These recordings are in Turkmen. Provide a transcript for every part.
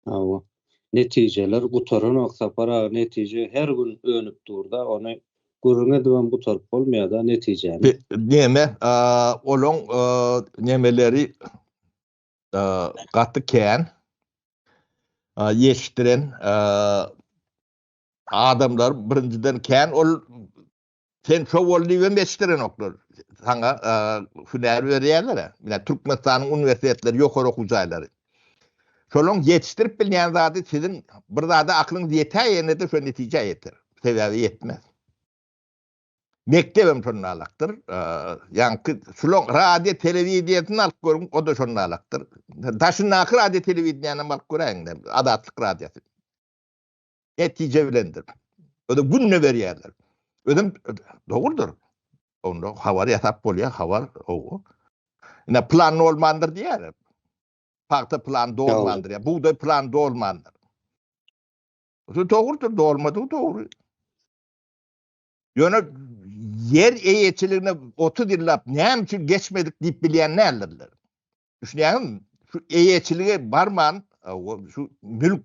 Hawa. Netijeler gutaranok Sapar aga netije her gün önüp durda ony gürrüň edibem gutaryp bolmaýada netijäni. Neme olaň nemeleri gaty kän ýetişdiren adamlary birinjiden kän ol Sen şo bol diýibem eşitdirenoklar. Saňa hünär berýärler. Ýa Türkmenistanyň uniwersitetleri, ýokary okuw jaýlary. Şolaryň ýetişdirip bilýän zady siziň bir zada aklyňyz ýeter ýene-de şo netijä ýeter. Sebäbi ýetmez. Mekdebem şonda alakdyr. Ýaňky şulaň radio telewideniýesini alyp görüň, o-da şonda alakdyr. Daşyndaky radio telewideniýäni alyp göräýiň, Azatlyk radiosy. netije bilendir. Özü gününe berýärler. Özüm dogrudur. Onda habar ýasap bolýar, habar owo. Ine plan olmandyr diýýär. Pagta plan dolmandyr. Ya buğday plan dolmandyr. Bu dogrudur, dolmadygy dogry. Ýöne ýer eýeçiligine 30 ýyllap näme üçin geçmedik diýip bilýän nälerler. Düşünýäňizmi? Şu eýeçilige barman, şu mülk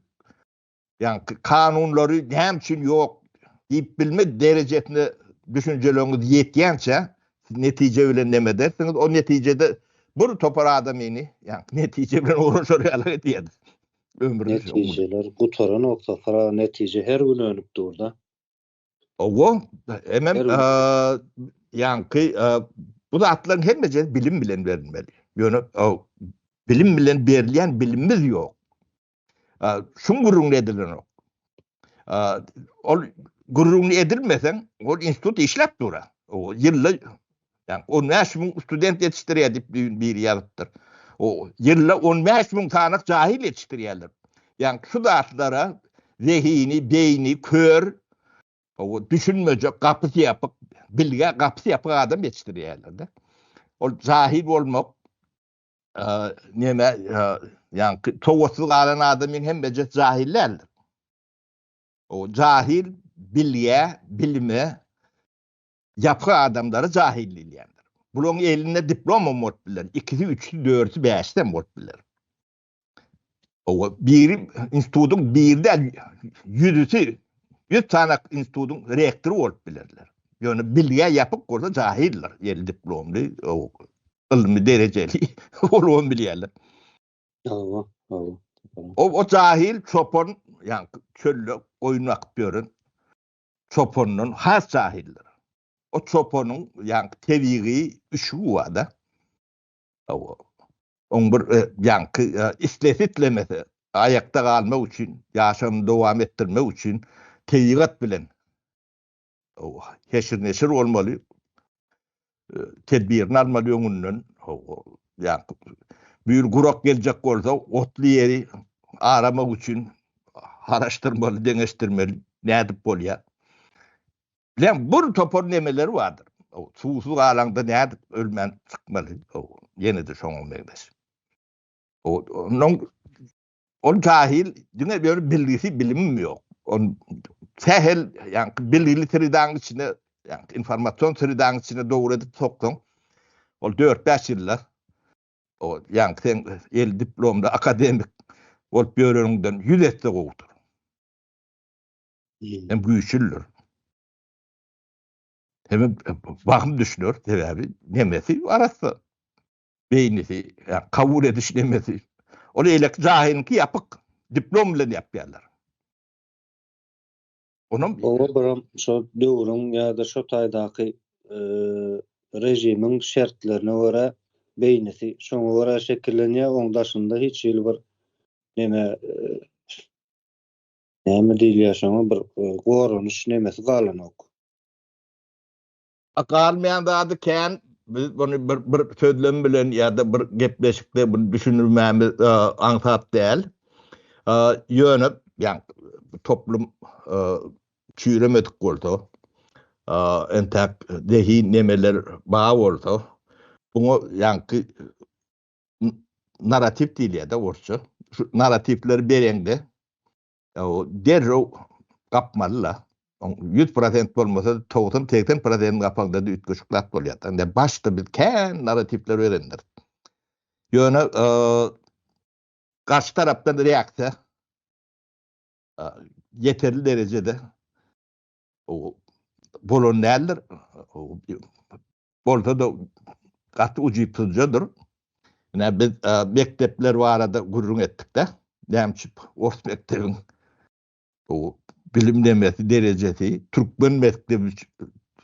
Yani kanunları näme üçin yok deyip bilmek derejesine düşünceleriniz yetýänçe netice bilen neme edersiniz? O neticede bir topar adamyny yani netice bilen uğraşar ýaly edýär. Ömrüni netijeler gutaran olsa sara netice her gün önüp durda. Owo, hemem yani bu zatlaryň hemmesi bilim bilen berilmeli. Ýöne bilim bilen berilýän bilimimiz ýok. Şun gürrüňini edilenok. Ol gürrüňini edilmeseň, ol institut işläp dura. O ýylda ýa 15 müň student ýetişdirýär diýip düýn biri ýazypdyr. O ýylda 15 müň sany jahil ýetişdirýärler. Ýa şu zatlara zehini, beýni kör, o düşünmejek gapysy ýapyk, bilge gapysy ýapyk adam ýetişdirýärler-de. Ol jahil bolmak näme ýaňky towatsyz galan adam men hem bejet jahil däldir. O jahil bilýä, bilime ýapgy adamlary jahil diýilýändir. Bularyň elinde diplom hem bolup biler, ikisi, üçüsi, dördüsi, bäşisi hem bolup biler. Owa, biri institutyň biri däl, ýüzüsi, ýüz sany institutyň rektory bolup bilerler. Ýöne bilgä ýapyk bolsa jahyldyr, ýeli diplomly, ylmy derejeli bolubam bilýärler. Hawa, hawa. O jahyl çopan, ýaňky çölde goýun bakyp ýören çopandan has jahyldyr. O çopanyň ýaňky tebigy üşügi bar-da. Oň bir ýaňky islese-islemese aýakda galmak üçin, ýaşagyny dowam etdirmek üçin tebigat bilen heşir-neşir bolmaly, tedbirini almaly öňünden. Bu ýyl gurak geljek bolsa, otly ýeri aramak üçin garaşdyrmaly, deňeşdirmeli, nädip bolýar. Bilen bir topar nemeler bardyr. O suwsuz galaňda nädip ölmän çykmaly? O ýene-de şoňa meňzeş. O onuň ol jahil diňe bir bilgisi bilimim ýok. On sähel ýaňky bilgili sridaň içine ýaňky informasion sridaň içine dogry edip soksaň ol 4-5 ýyllar o ýaňky sen el diplomda akademik bolup ýöreniňden 100 esse gowudyr. hem güýçlüdir. Hem bahym düşünür, sebäbi nemesi arassa. Beýnisi, kabul ediş nemesi. Ol eýleki jahylyňky ýapyk, diplom bilen ýapýarlar. Onam Oba biram şo döwrüň ýa-da şo taýdaky režimiň şertlerine görä beýnisi şoňa görä şekillenýär, oň daşynda hiç hili bir neme Näme diýilýär şoňa bir goranyş nemesi galanok. A galmaýan zady kän biz muny bir bir sözlem bilen ýa-da bir gepleşikde muny düşünürmämiz aňsat däl. Ýöne ýagny toplum çüýremedik bolsa entäk zehin nemeler bar bolsa buňa ýaňky narrativ diýilýär-de orsça. Şu narrativleri bereňde derrew gapmaly-la. Oň 100% bolmasa, 90-80% gapaňda-da üýtgeşik zat bolýar. Indi başda biz kän narrativler berendiris. Ýöne garşy tarapdan reaksiýa ýeterli derejede bolan däldir. Bolsa-da gaty ujypsyzjadyr. Ine biz mekdepler barada gürrüň etdik-de, nämçip ors mekdebiň bilim demesi, derejesi türkmen mekdebi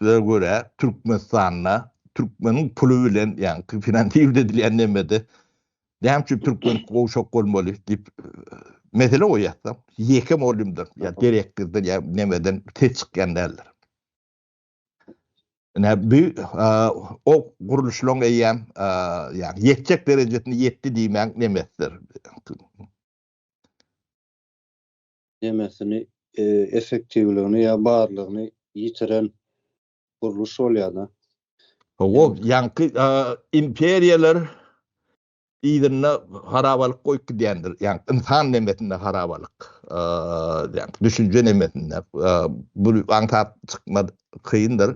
ze görä Türkmenistanda türkmeniň puly bilen ýaňky finansiwt edilýän nemede Näme üçin türkmen gowşak bolmaly diýip mesele goýýarsa, ýeke mugallymdan ýa direktordan ýa nämeden ses çykýan däldir. Ine bu o gurluşlaryň eýýäm ýa ýetjek derejesine ýetdi diýmäň nemesdir. Nemesini, effektiwligini ýa barlygyny ýitiren gurluş bolýada. Hawa, ýaňky imperiýalar yzynda harabalyk goýup gidýändir. Ýa ynsan nemesinde harabalyk. Ýa düşünje nemesinde. Bu aňtap çykmak kyndyr.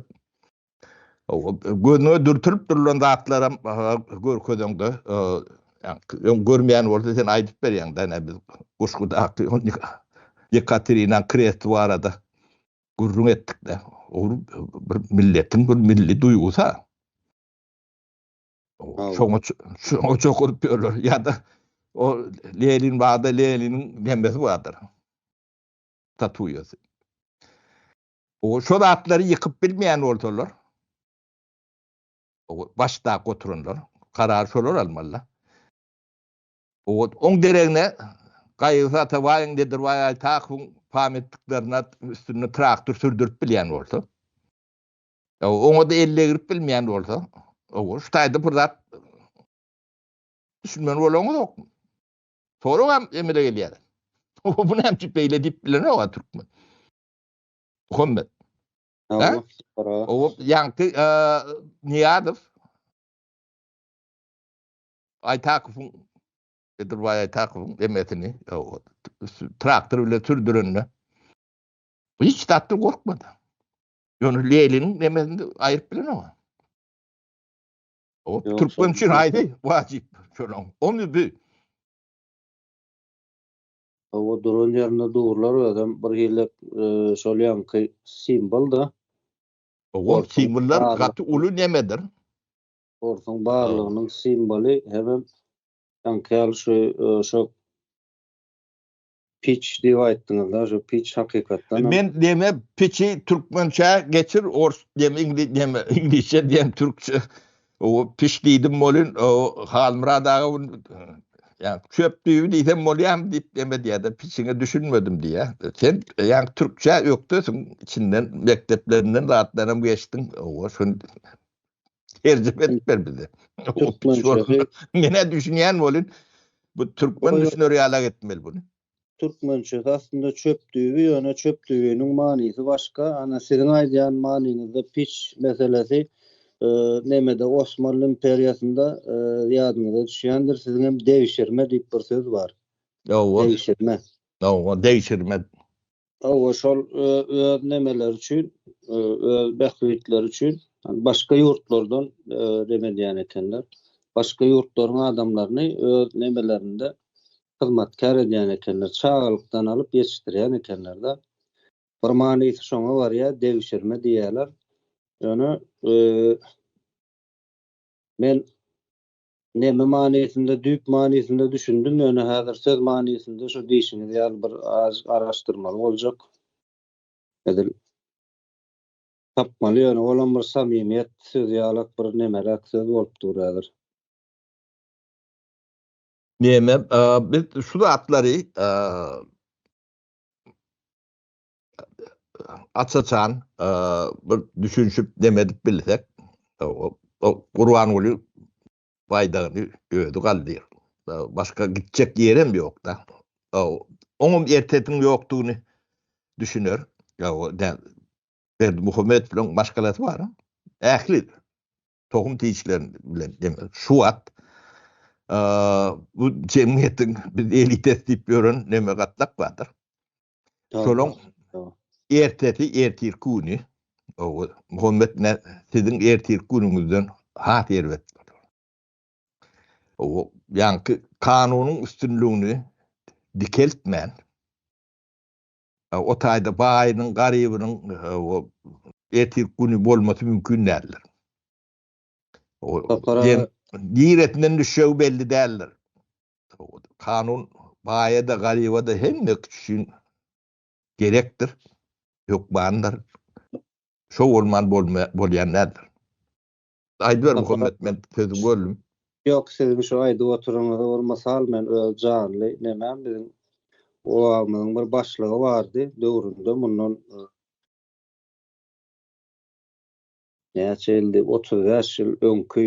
Hawa, gözüňe dürtülip durlan zatlaram görkezeňde, ýa görmeýän bolsa sen aýdyp berýäň-de, ene biz Guşgudaky Ýekaterina Krest barada gürrüň etdikde, ol bir milletiň bir milli duýgusy-a. Şoňa şoňa çokuryp ýörler. Ýa-da o Lenin barda Leniniň nemesi bardyr. Tatuýasy. O şol atlary ýykyp bilmeýän bolsalar, başda oturanlar, karar şolar almalylar. Oň deregine Gaýygysy Atabaýyň, Nedirbaý Aýtakowyň pametliklerine üstünde traktor sürdürip bilýän bolsa, oňa-da elle girip bilmeýän bolsa, owo, şu taýda bir zat düşünmeli bolaňyzokmy? Soragam emele gelýär. Owo, bu näme üçin beýle diýip bilenok-a türkmen. Muhammet. Owo, ýaňky Niýazow Aýtakowyň, Bedirbaý Aýtakowyň emesini traktor bilen sürdürende hiç zatdan gorkmady. Ýöne Leliniň emesini aýryp bilen oňa. O türkmen üçin aýdy wajyp şolaň. Ony bi. Owa duran ýerinde durlar özem bir hili e, şol ýanky simwol da. Owa simwollar gaty uly nemedir. Sportuň barlygynyň simwoly hemem taňkyýaly şu şo piç diýip aýtdyňyz-da, şu piç hakykatdan. Men deme piçi türkmençä geçir, ors deme iňlis deme, iňlisçe diýen türkçe. O piç diýdim bolin, o Halmyrat aga ýa çöp düýbi diýsem bolýarmy diýip deme diýýär-de, piçiňe düşünmedim diýýär. Sen ýa türkçä ökdesiň, içinden mekdeplerinden zatlaram geçdiň, owa şun Terjime edip ber bize. Türkmençe. Mene düşünýän bolun. Bu türkmen düşüner ýala gitmeli bunu. Türkmençe aslynda çöp düýbi, ýöne çöp düýbiniň manysy başga. Ana siziň aýdýan manyňyzda piç meselesi nemede Osmanly imperiýasynda ýadyňyza düşýändir, siziň hem degşirme diýip bir söz bar. Degşirme. Degşirme. Hawa, şol öz nemeleri üçin, öz bähbitleri üçin başga ýurtlardan nem edýän ekenler. Başga ýurtlaryň adamlaryny öz nemelerinde hyzmatkär edýän ekenler. Çagalykdan alyp ýetişdirýän ekenler-de. Bir manysy şoňa barýar, degşirme diýýärler. Ýöne men Näme manysynda düýp manysynda düşündim ýöne häzir söz manysynda şu diýşiňiz ýaly bir az garaşdyrmaly boljak. Edil tapmaly ýöne olam bir samimiýet sözi ýalak bir nemeräk söz bolup dur häzir. Näme biz şu zatlary açaçan bir düşünşip demedip bilsek, o Gurbanguly baýdagyny özi galdýar. Başga gitjek ýerem ýok da. Oňam ertetiň ýokdugyny düşüner. Berdi Muhammedow bilen başgalasy bar. Ähli tohum tişler bilen demek. Şu wagt bu jemgyýetiň biz elites diýip ýören neme gatlak bardyr. Şonuň ertesi ertir güni o Muhammed ne sizin ertir günüňizden has erbet bolar. O ýaňky kanunyň üstünligini dikeltmän o taýda baýynyň garybynyň ertir güni bolmasy mümkin däldir. Niresinden düşýägi belli däldir. Kanun baýa-da, garyba-da hemme üçin gerekdir, hökmandyr. Şo bolman bolýan däldir. Aýdyber Muhammet, men sözi böldüm. Ýok, siziň şu aýdyp oturyňyzy bir mysal men öz janly nemem biziň obamyzyň bir başlygy bardy döwründe mundan näçe ýyldy, otuz bäş ýyl öňki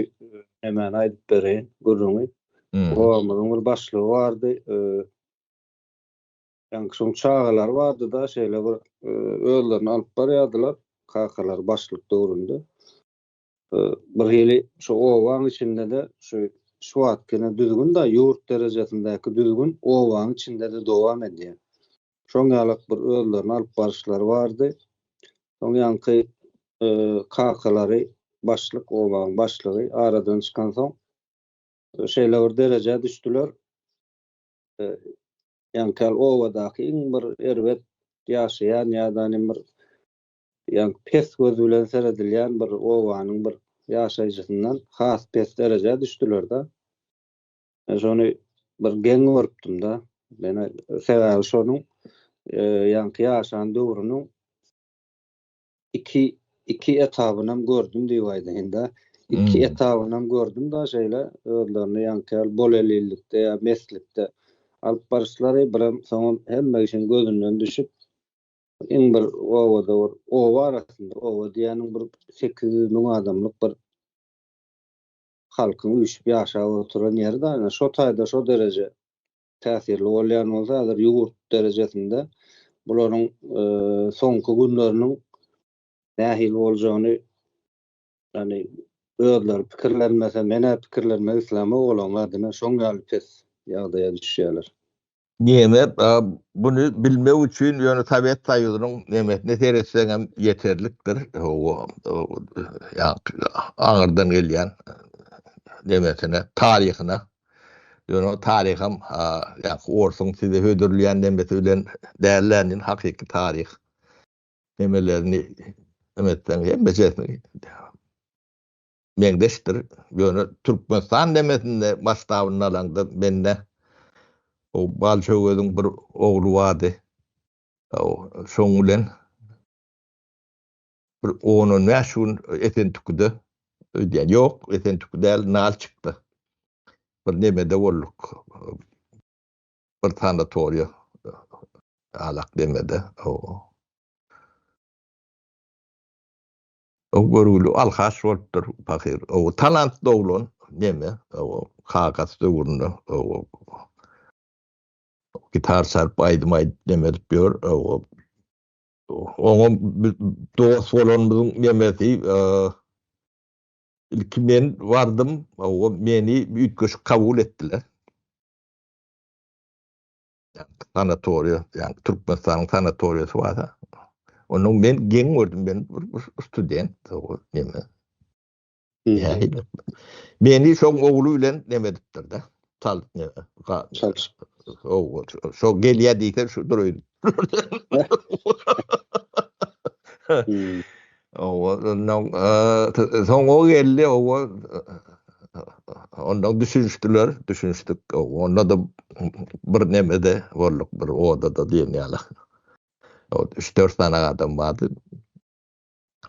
nemäni aýdyp bereýin, gürrüňi. Obamyzyň bir başlygy bardy. Ýaňky şoň çagalary bardy-da, şeýle bir özlerini alyp barýardylar, kakalary başlyk döwründe. Bir hili şu obaň içinde-de şu şu wagtkine düzgün-de, ýurt derejesindäki düzgün obaň içinde-de dowam edýär. şoň ýalak bir özlerini alyp baryşlary bardy. Soň ýaňky kakalary başlyk obaň başlygy aradan çykansoň şeýle bir derejä düşdüler. Ýaňky al obadaky iň bir erbet ýaşaýan ýa-da nim bir ýaňky pes göz bilen seredilýän bir obanyň bir ýaşaýjysyndan has pes derejä düşdüler-de. Men şony bir geň görüpdim da. Men sebäbi şonuň e, ýaňky ýaşan döwrüniň iki iki etabyny hem gördüm diýip aýdaýynda. Iki hmm. etabyny hem gördüm da şeýle özlerini ýaňky ýaly bol elillikde ýa meslikde alyp baryşlary bir hem soňam hemme işiň gözünden düşüp iň bir obada bir oba arasynda oba diýeniň bir sekiz ýüz müň adamlyk bir halkyň üýşüp ýaşap oturan ýeri da ine şo taýda şo dereje täsirli bolýan bolsa häzir ýurt derejesinde bularyň soňky günleriniň nähili boljagyny ýagny özleri pikirlenmese men-ä pikirlenmek islämok olaryň adyna şoň ýaly pes ýagdaýa düşýärler. Neme buny bilmek üçin ýöne Sowet Soýuzynyň nemesine seretseň hem ýeterlikdir. O aňyrdan gelýän nemesine, taryhyna. Ýöne taryham ýa-da orsuň size hödürleýän nemesi bilen däl-ä indi hakyky taryh. Nemelerini hem etseň hemme zehni. meňzeşdir. Ýöne Türkmenistan demesinde masştabyny alaňda mende o Balçöweziň bir ogly bardy. Şoň bilen bir on-on bäş gün Esentükide öýdýän. Ýok, Esentüki däl, Nalçykda bir nemede bolduk. Bir sanatoriýa alak nemede. Gowy görgüli alkaş bolupdyr pahyr. Gowy talantly oglan neme gowy kakasy döwründe gowy gitar çalyp aýdym aýdyp neme edip ýör gowy. Oňa biz dost bolanymyzyň nemesi ilki men bardym gowy meni üýtgeşik kabul etdiler. sanatoriýa, ýa Türkmenistanyň sanatoriýasy bar-da. Onda men geň gördüm, men bir student, o näme. Meni şoň ogly bilen näme edipdir-de. Tal näme. O şo gelýä diýse şudur öýdüp. Owa, ondan soň o geldi, owa, ondan düşünişdiler, düşünişdik. Owa, onda-da bir nemede bolduk, bir odada diýen ýaly. O, üç-dört sany adam bardy.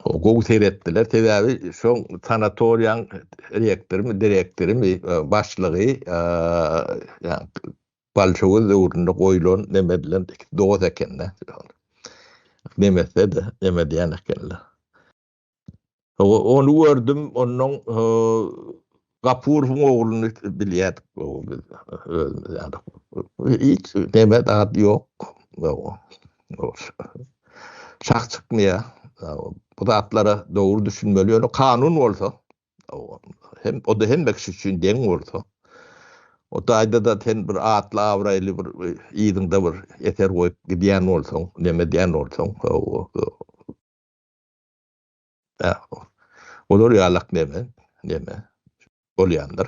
O, gowy seretdiler, sebäbi şoň sanatoriýaň rektorymy, direktorymy, başlygy, ýa, Bolşewik döwründe goýlan Memediler iki dost ekeni. Memetse-de, memedýän ekenler. Ony gördüm, ondan Gapurowyň ogluny bilýärdik biz özümiz ýaly. Hiç nemes ady ýok. Çak çykmaýar. Bu zatlara dogry düşünmeli. Ýöne kanun bolsa, Hem o-da hemme kişi üçin deň bolsa, o taýda-da sen bir atly-abraýly bir yzyňda bir eser goýup gidýän bolsaň, neme edýän bolsaň, olar ýalak neme, neme bolýandyr.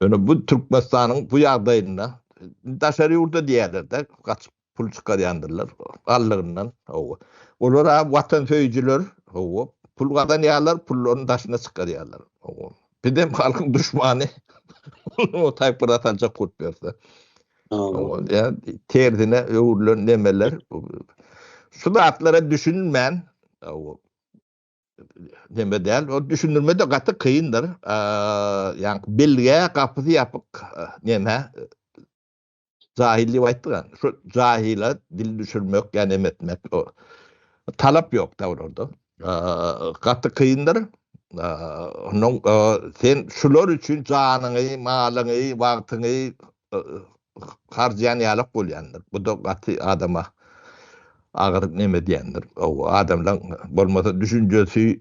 Ýöne bu Türkmenistanyň bu ýagdaýynda daşary ýurda diýerler-de, gaçyp pul çykarýandyrlar gallygyndan. Hawa. Olar-a watansöýüjiler. Hawa. Pul gazanýarlar, pullaryny daşyna çykarýarlar. Hawa. Bizem halkyň duşmany. Ol taýpara saljak bolup ýörse. Hawa. Ýa tersine öwrülen nemeler. Şu zatlara düşünmän, hawa. Neme däl, o düşündirme de gaty kyndyr. Ýa belge gapysy ýapyk neme jahil diýip aýtdygan. Şu jahila dil düşürmek, ýa neme etmek o talap ýok da olarda. Gaty kyndyr. Ondan sen şular üçin janyňy, malyňy, wagtyňy harjaýan ýalak bolýandyr. Bu-da gaty adama agyr neme edýändir. Ow, adamlaň bolmasa düşünjesi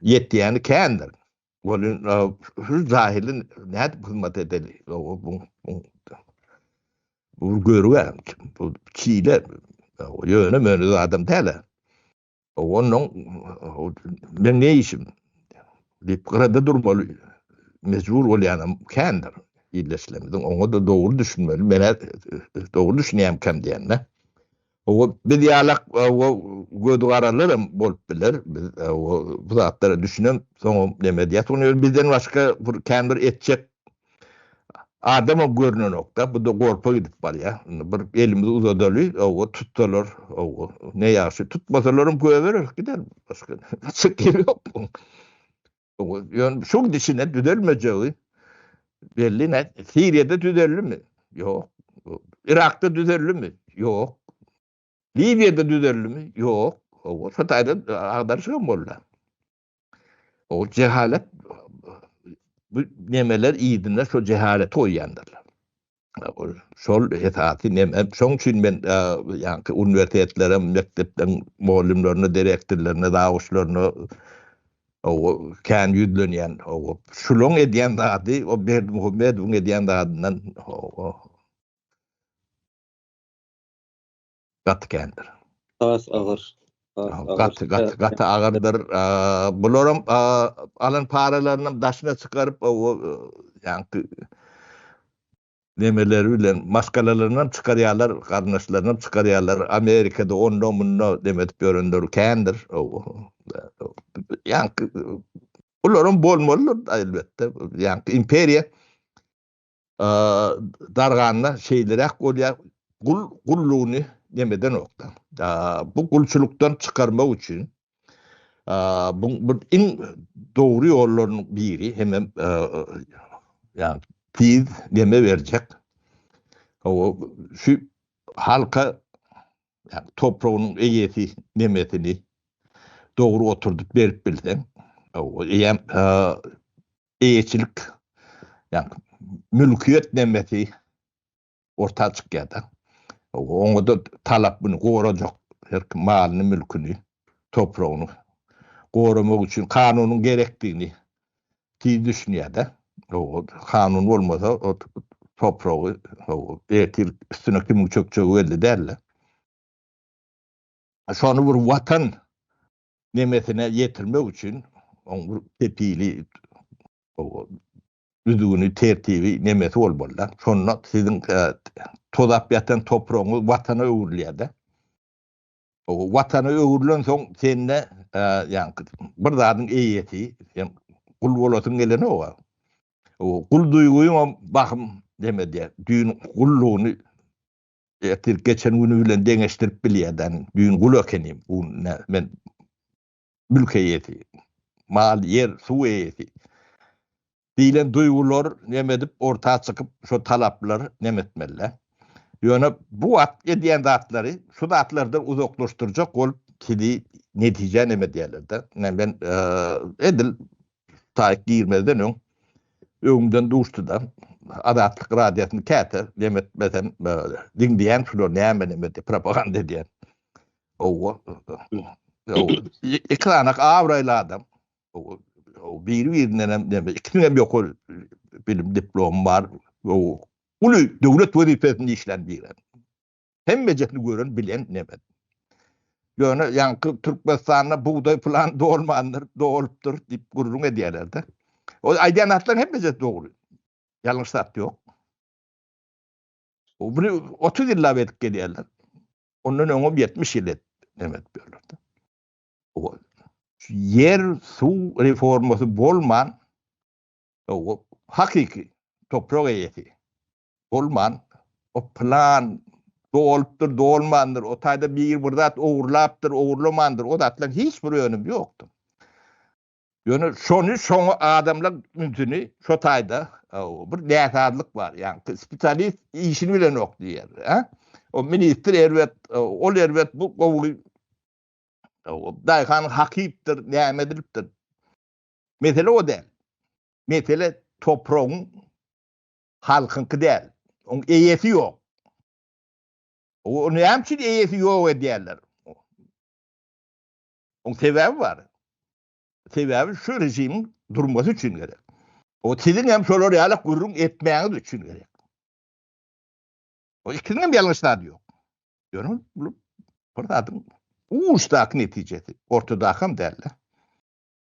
ýetýäni kändir. Welin şu jahili nädip hyzmat edeli? Ow, bu bu görüp, bu çile ýöne-möne adam däl-ä. Ondan men ne işim? Dip gyrada durmaly mecbur bolýanam kändir. Illeşlemizin oňa da dogry düşünmeli. Men dogry düşünýän kem diýende. O biz ýalak o göz garalarym bolup biler. Biz o bu zatlara düşünem, soňam neme diýýär? Soňam bizden başga bir kändir etjek Adama görnenokda, bu-da gorpa gidip barýa. Indi bir elimizi uzadaly, oba tutsalar, oba, ne ýagşy. Tutmasalaram goýbereris, gider. Başga çykyp ýeri ýok buň. Oba, ýöne şu gidişine düzelmejegi belli. Nät, Siriýada düzeldimi? Ýok. Yrakda düzeldimi? Ýok. Liwiýada düzeldimi? Ýok. Oba, şu taýdan agdaryşygam boldy. Ol jehalet bu nemeler idinde şu cehalet goýýandyrlar. Ol şol esasy neme. Şoň üçin men ýa-da uniwersitetlere, mekdepden mugallymlaryna, direktorlaryna, zawuçlaryna o kän ýüzlenýän o şulaň edýän zady, o Berdimuhamedowyň edýän zadyndan o Gaty kendir. Has agyr. Gaty gaty gaty agyrdyr. Bularam alan paralarynam daşyna çykaryp o ýaňky nemeleri bilen maskalalarynam çykarýarlar, garyndaşlarynam çykarýarlar. Amerikada onda munda neme edip ýörenler kendir. Ýaňky bularam bolmalydyr elbetde. Ýaňky imperiýa Darganda şeýleräk bolýar, gul gullugyny nemedenokda, bu gulçulykdan çykarmak üçin bu iň dogry ýollaryň biri hemem ýagny tiz neme berjek şu halka topragynyň eýesi nemesini dogry oturdyp berip bilseň eýýäm eýeçilik, ýagny mülkiýet nemesi orta çykýar-da. Oňa-da talap muny gorajak, her kim malyny, mülküni, topragyny goramak üçin kanunyň gerekdigini tiz düşünýär-de. Kanun bolmasa, o topragy, ertir üstüne kimiň çökjegi belli däl-de. Şony bir watan nemesine ýetirmek üçin oň bir kepili düzgüni tertibi nemesi bolmalyda şonda siziň tozap ýatan topragyňyz watana öwrülýärde watana öwrülen soň sende ýaňky bir zadyň eýesi sen gul bolasyň gelenok gul duýgyňam bahym neme diýýär düýn gullugyny Ertir geçen güni bilen deňeşdirip bilýädäň. Düýn gul ekenim, bu gün nä, men mülk eýesi, mal, ýer, suw eýesi diýlen duýgular neme edip orta çykyp, şo talaplar neme etmeli-dä. Ýöne bu wagt edýän zatlary şu zatlardan uzaklaşdyrjak bolup sizi netijä neme edýärler-de. Men edil Taýyk girmezden öň öňümden duşdy-da, Azatlyk Radiosyny käte lem etmesem, diňleýän şular näme-näme diýip, propaganda edýän. Ow, ekranak abraýly adam. Biri-birindenem näme, ikisiniň hem ýokary bilim diplomy bar. Ow, uly döwlet wezipesinde işlän biri. Hemmejesini gören bilen nemet. Ýöne ýaňky Türkmenistanda bugdaý plan dolmandyr, dolupdyr diýip gürrüň edýärler-de. O aýdýan zatlaryň hemmesi dogry. Ýalňyş zat ýok. O bir 30 ýyllap edip gelýärler. Ondan öňem 70 ýyl et nemet berlerde. O ýer suw reformasy bolman o hakyky toprak eýesi. Bolman, o plan dolupdyr, dolmandyr, o taýda biri bir zat ogurlapdyr, ogurlamandyr, o zatlaryň hiç bir önümi ýokdur. Ýöne şony şoňa adamlar ünsüni şo taýda bir näsazlyk bar. Ýagny spesialist işini bilenok diýýär. Hä? O ministr erbet, ol erbet, bu gowy. Daýhan hakypdyr, näme edilipdir. Mesele o däl. Mesele topragyň Halkyňky däl. Oň eýesi ýok. Ony näme üçin eýesi ýok edýärler? Oň sebäbi bar. Sebäbi şu režimiň durmasy üçin gerek. O siziň hem şolar ýaly gürrüň etmäňiz üçin gerek. O ikiniň hem ýalňyş zady ýok. Ýöne bu bir zadyň uçdaky netijesi, ortadaky hem däl.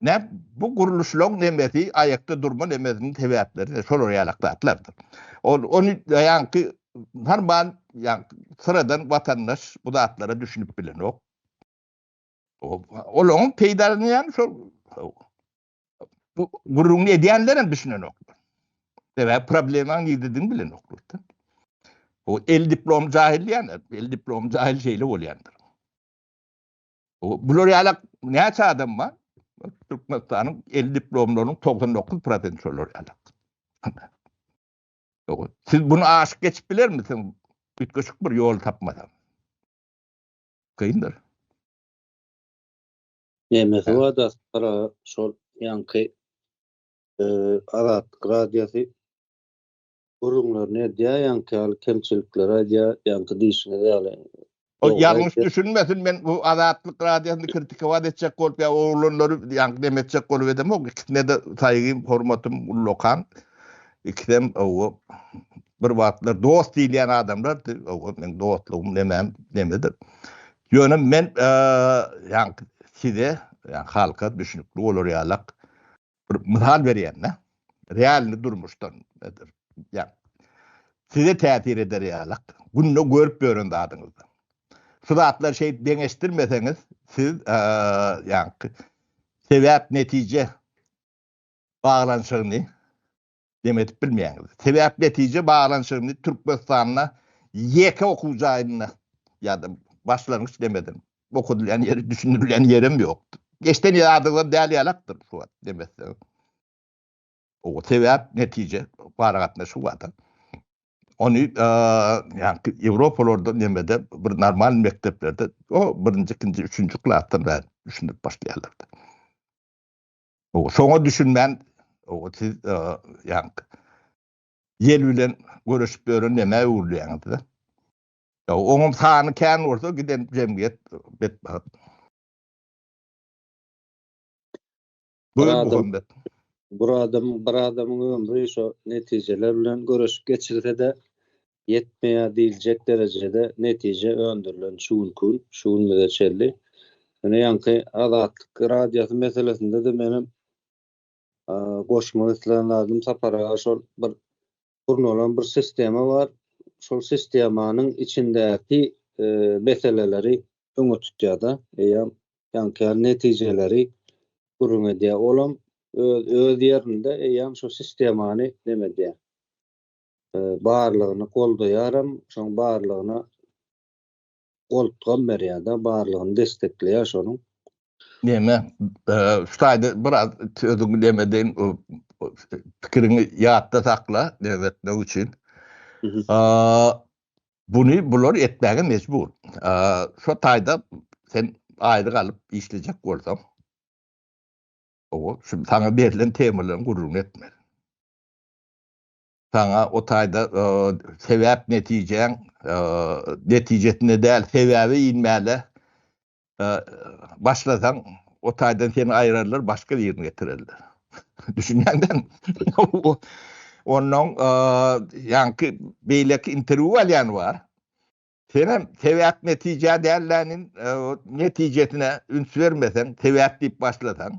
Näme, bu gurluşlaryň nemesi, aýakda durma nemesiniň sebäpleri-de şolar ýalak zatlardyr. Ol, ony ýaňky normal, ýaňky syradan watandaş bu zatlara düşünip bilenok. Olaryň peýdalanýany şol, bu gürrüňini edýänler hem düşünenoklar. Sebäbi problemaň nirdedigini bilenoklar-da. Bu el diplom jahil diýýänler, el diplom jahil şeýle bolýandyr. Bular ýalak näçe adam bar? Türkmenistanyň el diplomlarynyň 99 prosenti şolar ýalak. Siz bunu aşyk geçip biler misin? Ütgeşik bir ýol tapmadan. Kyndyr. Nemesi var da para şol yankı e, Azat radyosu Gürrüňlerini edýär, ýaňky ýaly kemçilikleri aýdýar, ýaňky diýşiňiz ýaly. Ol ýalňyş düşünmesin, men bu Azatlyk Radiosyny kritikować etjek bolup ýa oglanlary ýaňky neme etjek bolup edemok, ikisine-de saýgym, hormatym uly okan. Ikisem owo bir wagtlar dost diýilýän adamlardy, owo meň dostlugym nemäm nemedir. Ýöne men ýaňky size, ýa halka düşünikli bolar ýalak bir mysal berýän-de, realny durmuşdan, ýa size täsir eder ýaly, günde görüp ýören zadyňyzda. Şu zatlar şeýdip deňeşdirmeseňiz, siz ýa sebäp-netije baglanyşygyny Dem edip bilmeýäňiz. Sebäp netije baglanyşygyny Türkmenistanda ýeke okuw jaýynda ýa-da başlangyç demeden okadylýan ýeri düşündirilýän ýerem ýokdur. Geçden ýadyňda däl ýalakdyr şu wagt dem etseň. O sebäp netije aragatnaşygy barda. Ony ýa-da Ýewropalarda nemede bir normal mekdeplerde o birinji, ikinji, üçünji klasdan bäri düşündirip başlaýarlar. O soňa düşünmän o siz ýan ýel bilen görüşip ýören näme öwrülýäňiz-de. Ya oňum sany kän bolsa giden jemgyýet betbagt. Bir adam, bir adam, bir adamyň ömri şu netijeler bilen görüşip geçirse de ýetmeýär diýiljek derejede netije öndürilen şu günki gün, şu günümize çenli. Ýöne ýaňky Azatlyk Radiosy meselesinde-de menem goşmak islän zadym Sapar aga şol bir gurnalan bir sistema bar. Şol sistemanyň içindäki meseleleri öňe tutýar-da, eýýäm ýaňky ýaly netijeleri gürrüň edýär. Olam öz ýerinde, eýýäm şu sistemany neme edýär, barlygyny goldaýaram, şoň barlygyna goltgam berýär-de, barlygyny destekleýär şonuň. Neme, şu taýda biraz sözüňi neme deýin, pikiriňi ýatda sakla, derretmek üçin. Buny bular etmäge mejbur. Şu taýda sen aýlyk alyp işlejek bolsaň, owo, şu saňa berlen temalaryň gürrüňini etmeli. saňa o taýda sebäp netijäň netijesinde däl sebäbe inmäle başlasaň o taýdan seni aýrarlar başga birini getirerler. Düşünýäňdämi? Onnoň ýaňky beýleki interwýu alýany bar. Senem sebäp netijä dälläniň netijesine üns bermeseň sebäp diýip başlasaň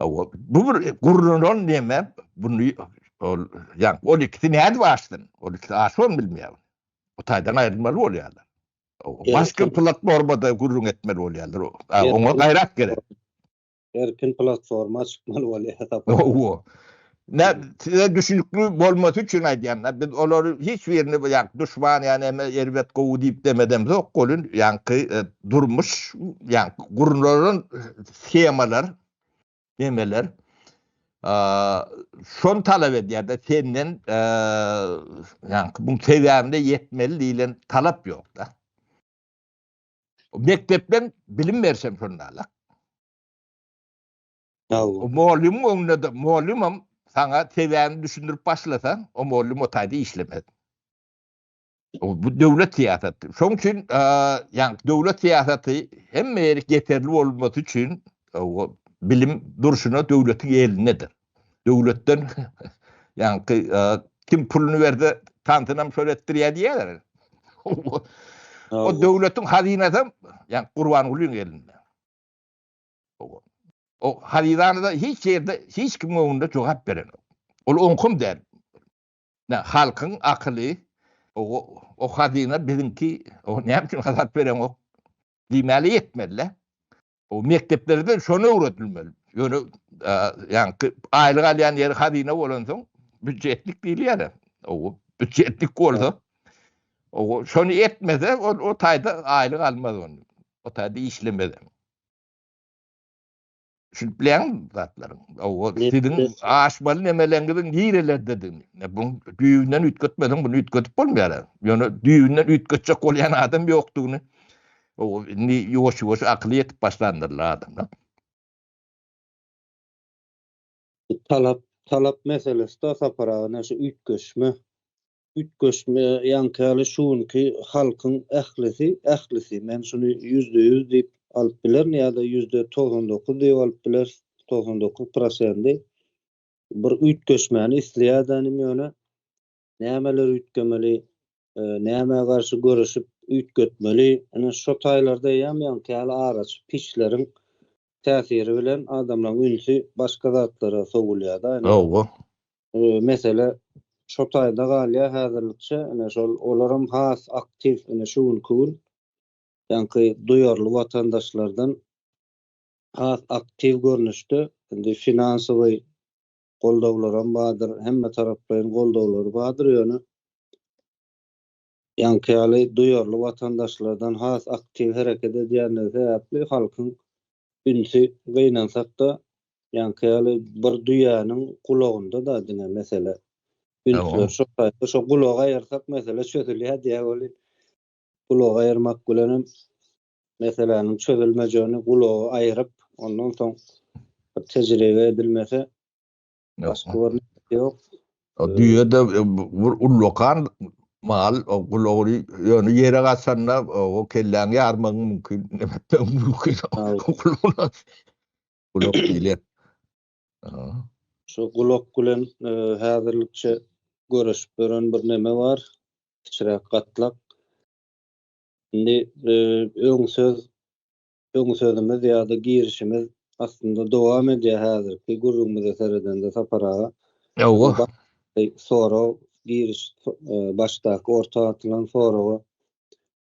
Awa, bu bir gurnalan näme? Bunu ol, ýa ol ikisi nädip açsyn? Ol ikisi açan bilmeýär. Bu taýdan aýrylmaly bolýarlar. Başka platformada gürrüň etmeli bolýarlar. Oňa gaýrat gerek. Erkin platforma çykmaly bolýar. Owo. Nä, size düşünikli bolmasy üçin aýdýan da, biz olary hiç birini bu ýaňky duşman ýa näme erbet gowy diýip demedemzok, goly ýaňky durmuş ýaňky gurnalan shemalar, nemeler şony talap edýär da, senden ýaňky bu sebäbine ýetmeli diýlen talap ýok da. Mekdepden bilim berşem şonda-la. O mugallymyň öňünde-de, mugallymam saňa sebäbini düşündirip başlasaň, o mugallym o taýda işlemez. Bu döwlet syýasaty. Şoň üçin, ýagny döwlet syýasaty hemme ýeri geterli bolmasy üçin bilim durşuna döwletiň elindedir. Döwletden ýagny kim puluny berse, tantynam şol etdirýär diýýärler. O döwletiň hazynasam, ýagny Gurbangulyň elinde. O haryzanada hiç ýerde hiç kimiň öňünde jogap berenok. Ol oňkym däl. Nä, halkyň akyly, o hazyna biziňki, o näme üçin hasap berenok diýmäle ýetmeli-dä. O mekdeplerde şony öwredilmeli. Ýöne ýaňky aýlyk alýan ýeri hazyna bolansoň, býujetlik diýilýär-ä. O býujetlik bolsa, o şony etmese, ol o taýda aýlyk almaz ony. O taýda işlemez. Düşünip bilen zatlaryň. O sizin aşmaly nemeleňiziň nirelerdedigini. Bu düýünden üýtgetmeden bunu üýtgetip bolmaýar. Ýöne düýünden üýtgetjek bolýan adam ýokdugyny. O indi ýuwaş-ýuwaş akyly ýetip başlandyrlar adamlar. Talap, talap meselesde Sapar aga ine şu üýtgeşme, üýtgeşme ýaňky ýaly şu günki halkyň ählisi, ählisi, men şuny ýüzde ýüz diýip alyp bilerin ýa-da ýüzde togsan dokuz diýip alyp bileris, togsan dokuz prosendi bir üýtgeşmäni isleýär-dänim ýöne Nämeler üýtgemeli, nämä garşy göreşip üýtgetmeli? Ine, şo taýlarda eýýäm ýaňykäýli araçy piçleriň täsiri bilen adamlaryň ünsi başga zatlara sowulýar-da. Hawa. Mesele şo taýda galýar häzirlikçe. Ine, şol olaram has aktiw, ine, şu günki gün ýaňky duýarly watandaşlardan has aktiw görnüşde indi finansowy goldawlaram bardyr, hemmetaraplaýyn goldawlary bardyr, ýöne ýaňky ýaly duýarly watandaşlardan has aktiw hereket edýändigi sebäpli halkyň ünsi gynansak-da, ýaňky ýaly bir düýäniň gulagynda-da diňe mesele. Ünsler şo taýpa, şo gulagy aýyrsak mesele çözülýär diýýär welin, gulagy aýyrmak bilenem meseläniň çözülmejegini gulagy aýryp, ondan soň bir tejribe edilmese, başga bir netice ýok. O düýe-de bir ullakan mal, o gulagyny ýöne ýere gaçanda o kelläňi ýarmagyň mümkin. Gulak diýilýär. Şu gulak bilen häzirlikçe göreşip ýören bir neme bar, kiçiräk gatlak. Indi öň söz öň sözümiz ýa-da girişimiz aslynda dowam edýär häzirki gürrüňimize seredende Sapar aga. Ýowwa. Sorag giriş başdaky orta atylan soraga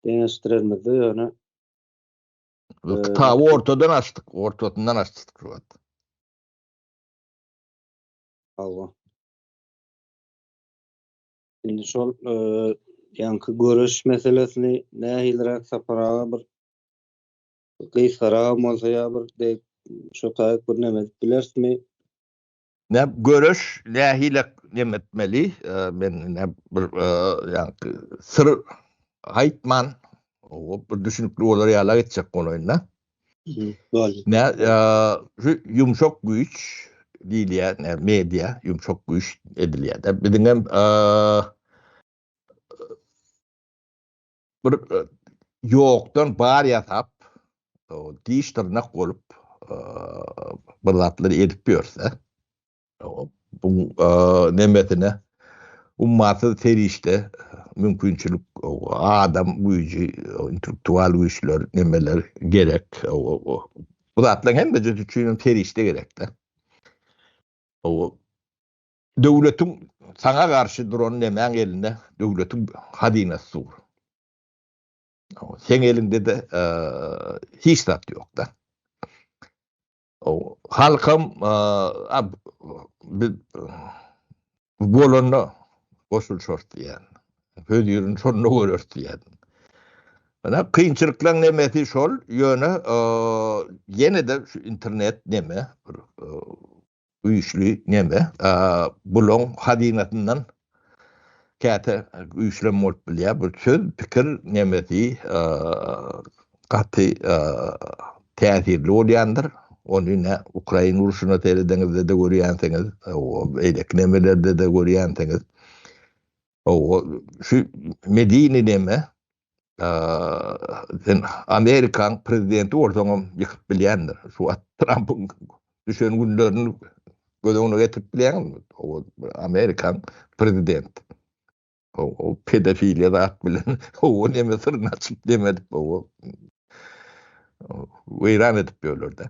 deňeşdirermizde ýöne kitaby ortadan açdyk, ortasyndan açdyk şu wagt. Hawa. Indi şol e, ýaňky göreş meselesini nähiliräk saparaga bir gysgarak bolsa ýa bir dek şu taýyk bir näme edip bilersmi? Ne göreş nähile näme etmeli? E, men ne bir e, ýaňky syr aýtman, o bir düşünikli bolar ýala geçjek bolaýynda. Boldy. Ne şu ýumşak güýç diýilýär, ne media ýumşak güýç edilýär. Biziň hem bir ýokdan bar ýasap, diş dyrnak bolup bir zatlar edip ýörse, Buň nemesine ummasyz serişde, mümkinçilik, adam güýji, intellektual güýçler, nemeler gerek. Bu zatlaryň hemmesi üçin hem serişde gerek-de. Döwletiň saňa garşy duran nemäň elinde döwletiň hazynasy dur. Seň eliňde-de hiç zat ýok-da. Halkam biz bolanda goşulyşarys diýýän. Hözirini şonda göreris diýýän. Ýöne kynçylyklaryň nemesi şol, ýöne ýene-de şu internet neme, güýçli neme, bulaň hazynasyndan Käte güýçlem bolup bilýär bu söz, pikir nemesi gaty täsirli bolýandyr. Ony nä Ukraina urşuna seredeňizde-de görýänsiňiz, beýleki nemelerde-de görýänsiňiz. Şu medeni neme, sen Amerikaň prezidenti bolsaňam ýykyp bilýändir. Şu wagt Trampyň düşen günlerini göz öňüne getirip bilýäňmi? O Amerikaň prezidenti. O, o pedofiliýa zat bilen o neme syryny açyp demedik o. Weýran edip ýörler-de.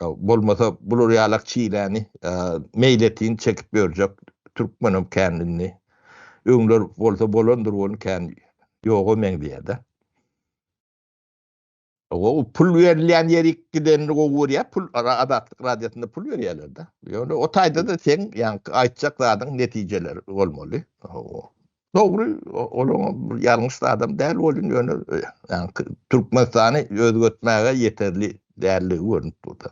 Bolmasa bular ýalak çiläni meýletin çekip ýörjek türkmenem kän indi. Öňler bolsa bolandyr ony kän ýoga meňzeýärde. O pul berilýän ýerik gidenini gowy görýä, pul Azatlyk radiýasynda pul berýärler-de. Ýöne o taýda-da seň ýaňky aýtjak zadyň netijeleri bolmaly. Dogry, olaň ýalňyş adam däl welin, ýöne Türkmenistany özgertmäge ýeterli däldigi görnüp durdy.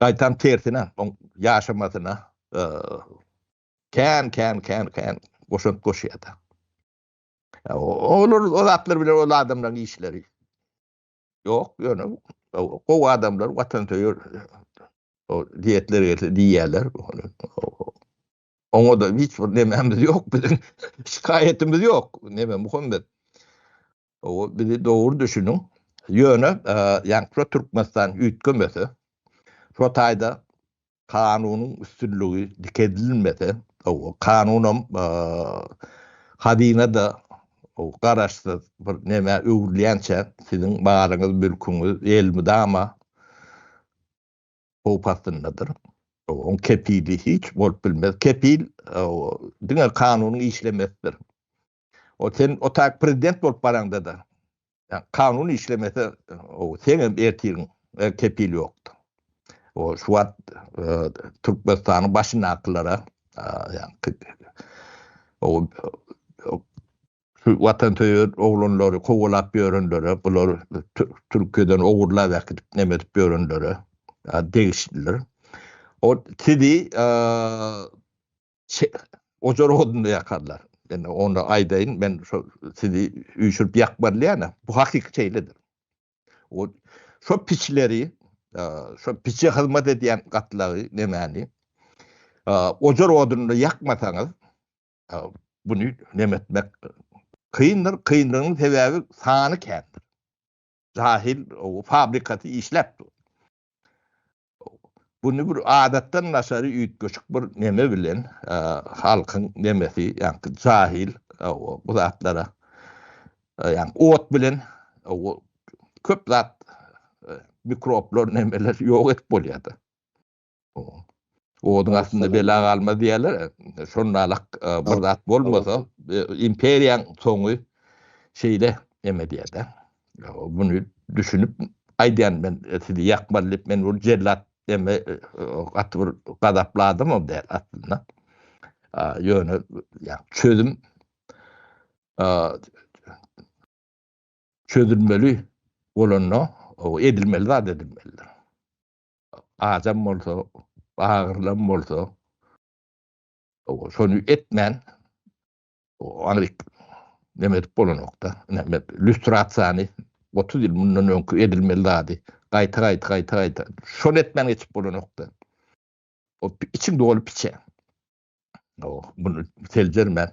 Gaýtam tersine, oň ýaşamasyna kän, kän, kän, kän goşant goşýardy. Olar, o zatlar bilen ol adamlaryň işleri ýok, ýöne gowy adamlar, watansöýer diýetleri gelse diýýärler. Oňa-da hiç bir nemämiz ýok biziň. Şikaýatymyz ýok. Neme Muhammet? Owa, bizi dogry düşüniň. Ýöne, ýagny şu Türkmenistan üýtgemese, şu taýda kanunyň üstünligi dikeldilmese, owa, kanunam hazyna-da garaşsyz bir nämä öwrülýänçä, siziň malyňyz, mülküňiz elmydama howp astyndadyr. Oň kepili hiç bolup bilmez. Kepil diňe kanunyň işlemesidir. O sen o tak prezident bolup baraňda-da, kanun işlemese, sen hem ertiriň, kepil ýokdur. O şu wagt Türkmenistanyň başyndakylara, ýa-ni o Şu watansöýer oglanlary kowalap ýörenlere, bular Türkiýeden ogurlap äkidip neme edip ýörenlere degişlidir. O sizi ojar odunda ýakarlar. Indi onda aýdaýyn, men şo sizi üýşürip ýakmarlaýan-a, bu hakyky şeýledir. O şo piçleri, şo piçe hyzmat edýän gatlagy nemäni ojar odunda ýakmasaňyz, Buny nem etmek kyndyr, kyndygynyň sebäbi sany kändir. Jahil o fabrikasy işläp dur. Buny bir adatdan daşary üýtgeşik bir neme bilen halkyň nemesi, ýagny jahil bu zatlara ýagny ot bilen köp zat mikroblar nemeler ýok edip bolýar-da. Oduň astynda bela galmaz diýerler. Şonalak e, bir zat bolmasa, e, imperiýaň soňy şeýle eme diýerde. Bunu düşünip aýdýan men e, sizi ýakmaly diýip men bu jellat eme gaty bir gazapladym o däl aslynda. Ýöne ýa çözüm çözülmeli bolanda edilmeli zat edilmelidir. adam bolsa, bagyrlan bolsa, şony etmän, ony neme edip bolanokda, neme, lüstrasiýany 30 ýyl mundan öňki edilmeli zady, gaýta, gaýta, gaýta, gaýta, şony etmän geçip bolanokda. O içiň doly piçe. O, bunu seljermän,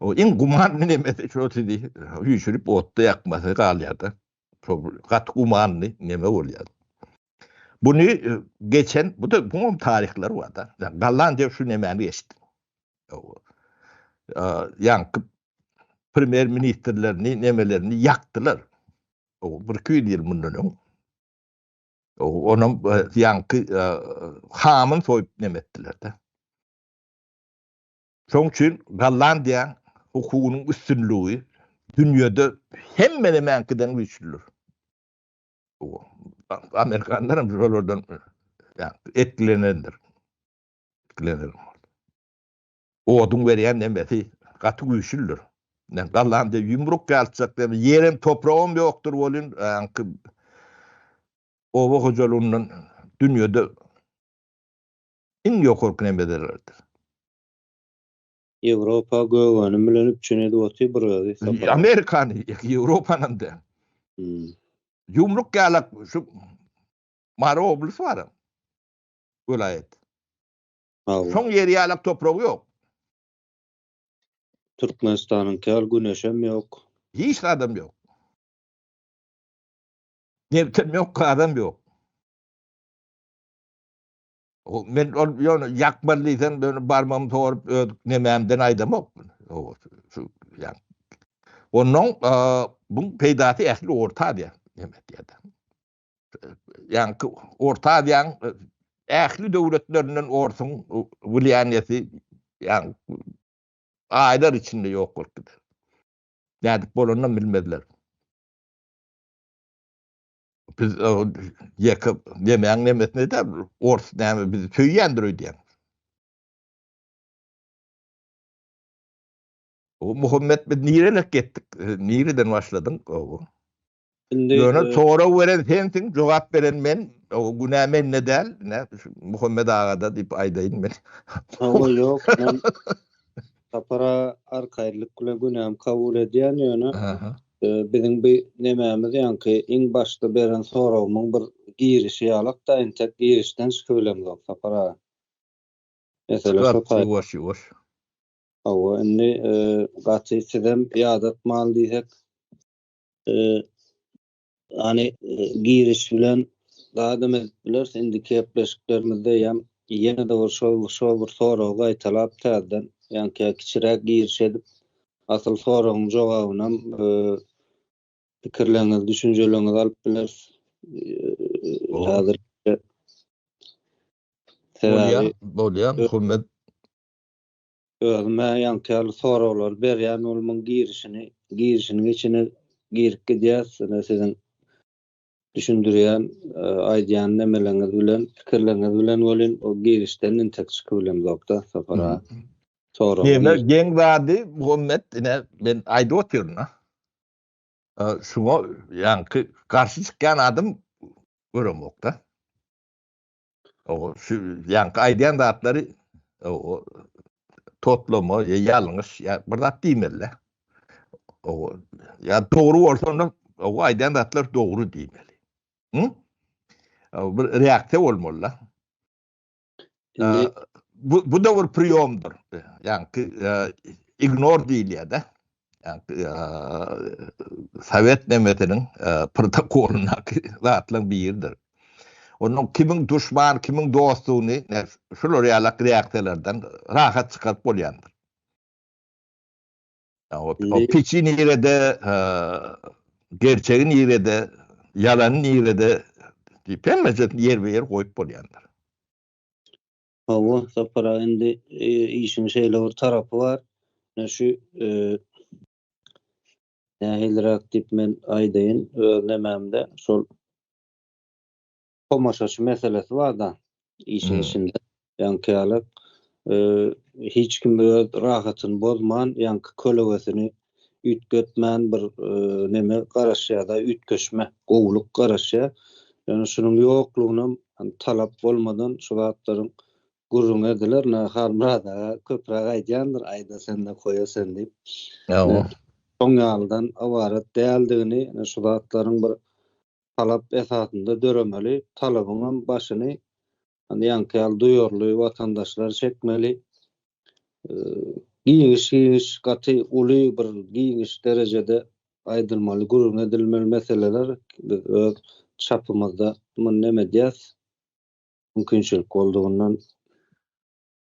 O iň gumanly nemesi şo sizi üýşürip otda ýakmasy galýar-da. Şo gaty gumanly neme bolýar. Buny e, geçen, bu da buňam taryhlar bar-da. Gallan diýip şu nemäni geçdi. Ýaňky premýer ministrlerini, nemelerini ýakdylar. O bir iki ýüz ýyl mundan öň. Onam e, ýaňky e, hamyn soýup nemetdiler-de. Şonuň üçin Gollandiýa hukugynyň üstünligi dünýäde hemme nämäňkiden güýçlüdir. Amerikanlar hem şolardan etkilenendir. Etkilenendir. Oduň berýän nemesi gaty güýçlüdir. Yani Gallandiýa ýumruk ýalçak diýip, ýerem topragam ýokdur bolun, anki oba hojalygyndan dünýäde iň ýokarky nemederlerdir. Ýewropa gögänim bilen üpjün edip otyr bir özi Saparmyrat. Amerikany, Ýewropanam däl. Ýumruk ýalak şu Mary oblys bar. Welaýat. Şoň ýeri ýalak topragy ýok. Türkmenistanyňky ýaly güneşem ýok. Hiç zadam ýok. Nebtem ýok, gazam ýok. Men ol ýöne ýakmaly diýseň ýöne barmam sorup öz nemämden aýdamok. Şu ýan. Ondan bu peýdasy ähli orta diýär. Demek ýa-da. Ýan orta diýän ähli döwletlerinden orsuň wulýanýeti ýan aýlar içinde ýok bolup gider. Nädip bolanyny bilmezler. biz ýeke demäň nemesine de ors näme bizi söýýändir öýdýän. O Muhammet biz nirelek gitdik? Nireden başladyň? O. Indi Ýöne e, sorag beren sensiň, jogap beren men. O günä mende däl. Ne Muhammet agada diýip aýdaýyn men. Hawa ýok, men Sapara arkaýynlyk bilen günämi kabul edýän ýöne biziň bi nemämiz ýaňky iň başda beren soragymyň bir girişi ýalakda entek girişden çykyp bilemzok Sapar aga. Mesele şo taýda. Ýuwaş ýuwaş. Hawa indi gaty sizem ýadatmaly diýsek Ýani giriş bilen dagy edip bileris indi kepleşiklerimizde ýam ýene-de bir şol şol bir soragy gaýtalap täzeden ýani kä kiçiräk giriş edip asyl soragyň jogabynam pikirleriňizi düşünjeleriňizi alyp bileris häzir Bolýar, bolýar, Muhammet. Özüm-ä ýaňky ýaly soraglary berýän bolmyň girişini, girişiniň içine girip gidýäs, ine siziň düşündirýän, aýdýan nemeleňiz bilen, pikirleriňiz bilen welin o girişden entek çykyp bilemzok-da, Sapar aga. Sorag. Ýene geň zady Muhammet, ine men aýdyp otyryn-a. Şuňa ýaňky garşy çykýan adam göremok-da. O şu ýaňky aýdýan zatlary o toplama ýa ýalňyş ýa bir zat diýmeli. O ýa dogry bolsa onda o aýdýan zatlar dogry diýmeli. Hı? O bir reaksiýa bolmaly. Bu bu da bir priýomdyr. Ýaňky ignor diýilýär-de. Sowet nemetiniň protokolyndaky zatlaryň biridir. Onuň kimiň duşman, kimiň dostdugyny şular ýaly reaksiýalardan rahat çykaryp bolýandyr. O piçi nirede, gerçegi nirede, ýalany nirede diýip hemmejesini ýerbe-ýer goýup bolýandyr. Hawa, Sapar aga indi işiň şeýle bir tarapy bar. Ine şu nähiliräk diýip men aýdaýyn, öz nemämde şol tomaşaçy meselesi bar-da işiň içinde. Ýaňky ýaly hiç kim öz rahatyny bozman, ýaňky kölegesini üýtgetmän bir neme garaşýar-da, üýtgeşme, gowulyk garaşýar. Ýöne şunuň ýoklugynam talap bolmadan şu zatlaryň gürrüňi ediler. Ine, Halmyrat aga köpräk aýdýandyr, Aýda sende, koýa sen diýip. Ýa-o. Şoň ýalydan ybarat däldigini, ine, şu zatlaryň bir talap esasynda döremeli, talabyňam başyny Ýaňky ýaly duýarly watandaşlar çekmeli. Giňiş-giňiş, gaty uly bir giňiş derejede aýdylmaly, gürrüň edilmeli meseleler biz öz çapymyzda muny näme edýäs? Mümkinçilik boldugyndan.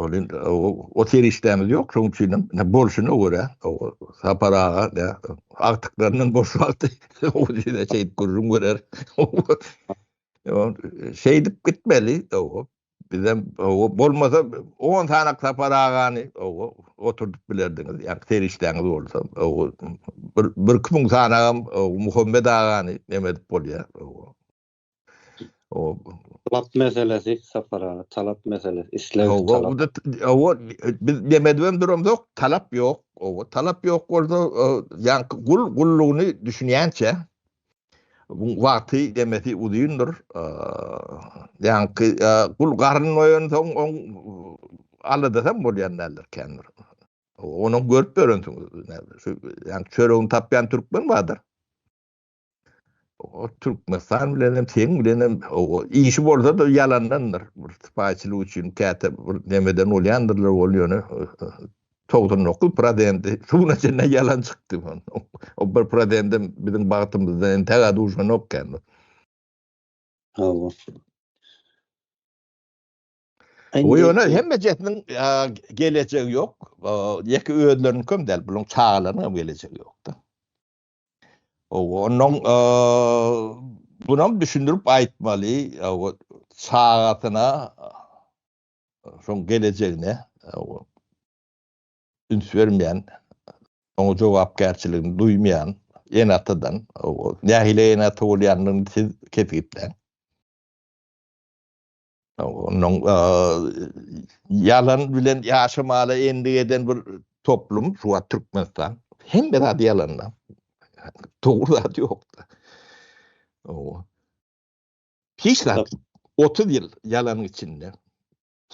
Ol indi o serişdämiz ýok, şoň üçin hem bolşuna görä, Sapar aga da agtyklaryndan boş wagty o ýere çeýip gürrüň berer. Şeýdip gitmeli, bizem bolmasa on sanak Sapar agany oturdyp bilerdiňiz, ýa-da serişdäňiz bolsa, bir-iki müň sanagam Muhammet agany neme edip bolýar. O talap meselesi Sapar aga, talap meselesi, isleg talap. Owa biz demedip hem duramzok, talap ýok. Owa talap ýok bolsa, ýa gul gullugyny düşünýänçe bu wagty demesi uzyndyr. Ýa gul garyn doýan soň on alada hem bolýan däldir kendir. Onuň görüp ýörensiň, ýa çöregini tapýan türkmen bardyr. O Türkmenistan bilen hem seň bilen hem o işi bolsa da yalandandyr. Bir spaýçylyk üçin käte bir nemeden bolýandyrlar ol ýöne 99 prozendi suwuna çenli ýalan çykdy. O bir prozendi biziň bagtymyzdan indi täze duşanok kan. Hawa. O ýöne hemme jetniň gelecegi ýok. Ýeke özleriniň köm däl, buluň çagalarynyň hem gelecegi ýokda. Owa, onuň bunam düşündirip aýtmaly, owa, çagasyna şoň gelejegine üns bermeýän, oňa jogapkärçiligini duýmaýan ene-atadan, owa, nähili ene-ata bolýandygyny siz kesgitläň. Onuň ýalan bilen ýaşamaga endik eden bir toplum, şu wagt Türkmenistan. Hemme zat ýalanda. Dogry zat ýokda. Hiç zat 30 ýyl ýalanyň içinde.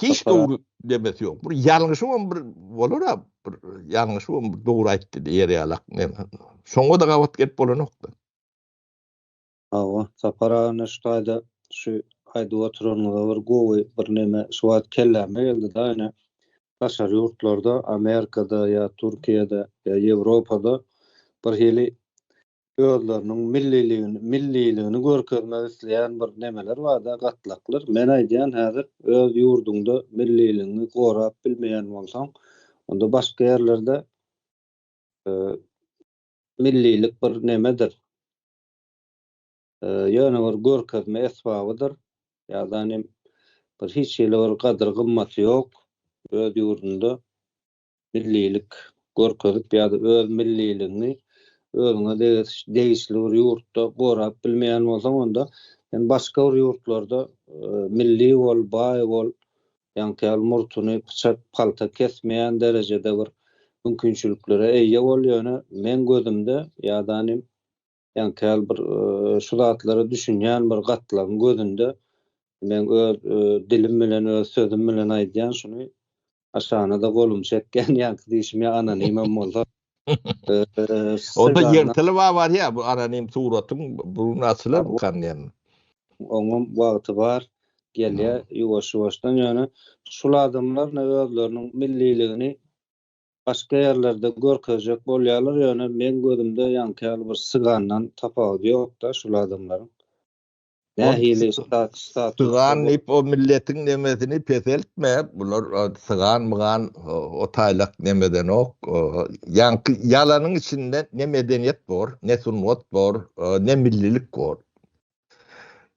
Hiç dogry demesi ýok. Bir ýalňyşy hem bir bolar ha, bir ýalňyşy hem bir dogry aýtdy diýer ýalak. Şoňa da gabat gelip bolanokda. Hawa, Sapar aga neşt aýda şu aýdyp oturanyňyza bir gowy bir neme şu wagt kelläme geldi-de ýöne daşary ýurtlarda Amerikada ýa Türkiýede ýa Ýewropada bir hili özleriniň milliligini milliligini görkezmek isleýän bir nemeler barda gatlaklar men aýdýan häzir öz ýurduňda milliligiňi gorap bilmeýän bolsaň onda başga ýerlerde millilik bir nemedir ýöne bir görkezme esbabydyr, ýadan hem bir hiç hili bir gadyr-gymmaty ýok, öz ýurdunda millilik görkezip ýa-da öz milliligiňi özüňe degişli bir ýurtda gorap bilmeýän bolsaň, onda sen başga bir ýurtlarda milli bol, baý bol, ýaňky ýaly murtuny pyçak, palta kesmeýän derejede bir mümkinçiliklere eýe bol, ýöne meň gözümde ýadan hem Ýaňky ýaly bir şu zatlara düşünýän bir gatlagyň gözünde men öz dilim bilen, öz sözüm bilen aýdýan şuny aşana-da golum çekýän ýaňky diýşim ýa anonimem bolsa. Onda ýerteli bar barýa bu anonim suratyň burun açylar bu kanýan. Oňam wagty bar gelýä ýuwaş-ýuwaşdan ýöne şul adamlar ne özleriniň milliligini başga ýerlerde görkezjek bolýarlar ýöne meň gözümde ýaňky ýaly bir sygandan tapawudy ýokda şul adamlaryň nähili statusda Sygan diýip o milletiň nemesini peseltme bular sygan mygan o taýlak nemedenok ýaňky ýalanyň içinde ne medeniýet bor ne sungat bor ne millilik bor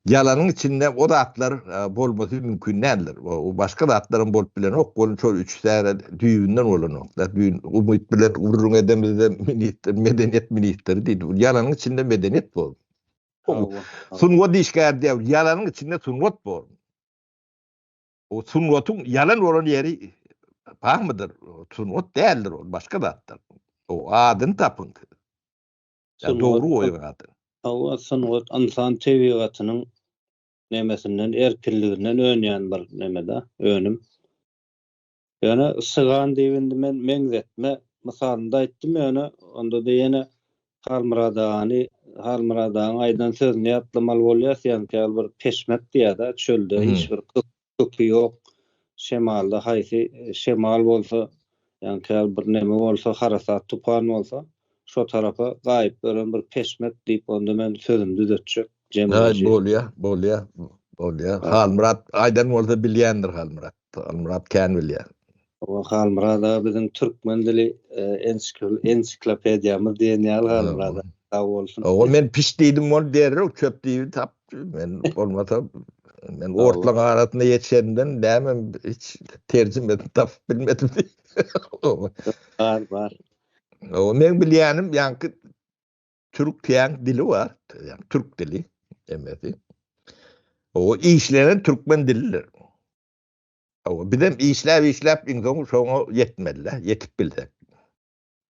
Ýalanyň içinde o zatlar bolmasy mümkin däldir. Başga zatlaram bolup bilenok. Ol şol üç täze düýbünden bolanok-da. Düýn umyt bilen gürrüň edemizde ministr, medeniýet ministri diýdi. Bu ýalanyň içinde medeniýet bor. Sungat işgäri diýýär, ýalanyň içinde sungat bor. O sungatyň ýalan bolan ýeri barmydyr? Sungat däldir ol, başga zatdyr. O adyny tapyň siz. Ýa dogry goýuň ady. Hawa sungat ynsan tebigatynyň nemesinden erkinliginden önýän bir nemeda önüm. Ýöne sygan diýip indi men meňzetme mysalynda aýtdym ýöne ondada ýene Halmyrat agany Halmyrat agaň aýdan sözüni ýatlamaly bolýas ýaňky ýaly bir peşmek diýada çölde hiç bir gyz köki ýok. Şemalda haýsy şemal bolsa, ýagny käbir neme bolsa, harasat tupan bolsa, şo tarapa gaýyp gören bir peşmek diýip onda men sözümi düzetjek, jemleji. Bolýa, bolýa, bolýa. Halmyrat aýdan bolsa bilýändir Halmyrat. Halmyrat kän bilýär. Hawa Halmyrat aga biziň türkmen dili ensiklopediýamyz diýen ýaly Halmyrat aga sag bolsun. Hawa men piş diýdim bol derrew çöp diýip tapdy men bolmasa men otlaryň arasynda ýetişenimden näme hiç terjime edip tapyp bilmedim. Bar bar. Hawa men bilýänim ýaňky türk täň dili bar ýa türk dili emmesi. Hawa işlenen türkmen dilidir. Hawa, bizem işläp-işläp iň soňy şoňa ýetmeli-dä, ýetip bilsek.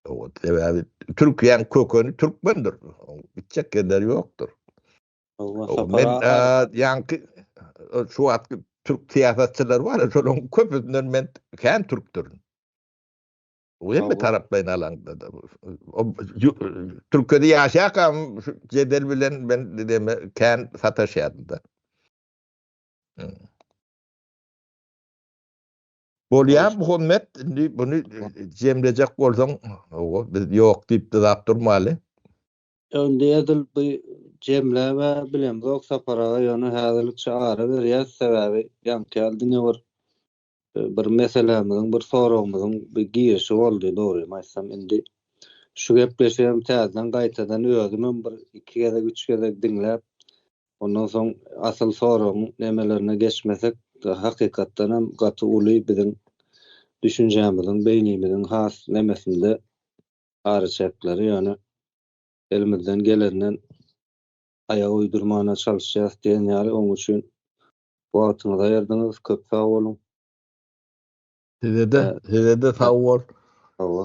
Hawa, sebäbi Türkiýäň kökeni türkmendir. Gitjek ýerleri ýokdur. Men ýaňky şu wagtky türk syýasatçylary bar, şolaryň köpüsinden men kän türkdürin. Bu hem bir taraplaýyn alaňda-da. Türkiýede ýaşaýarkam şu jedel bilen men kän sataşýardym-da. Bolýa Muhammet, indi bunu jemlejek bolsaň, biz ýok diýip dyzap durmaly. Indi edil bu jemläp ä bilemzok Sapar aga, ýöne häzirlikçe ara berýäs, sebäbi ýaňky ýaly diňe bir bir meselämiziň, bir soragymyzyň bir girişi boldy, dogrymy aýtsam, indi şu gepleşigem täzeden gaýtadan özümem bir iki gezek, üç gezek diňläp, Ondan soň asyl soragyň nemelerine geçmesek, hakykatdan hem gaty uly biziň düşünjämiziň, beýnimiziň has nemesinde araçäkleri, ýöne elimizden gelenden aýak uýdurmana çalyşýarys diýen ýaly. Onuň üçin wagtyňyzy aýyrdyňyz, köp sag boluň. Sizede, sizede sag bol. Hawa.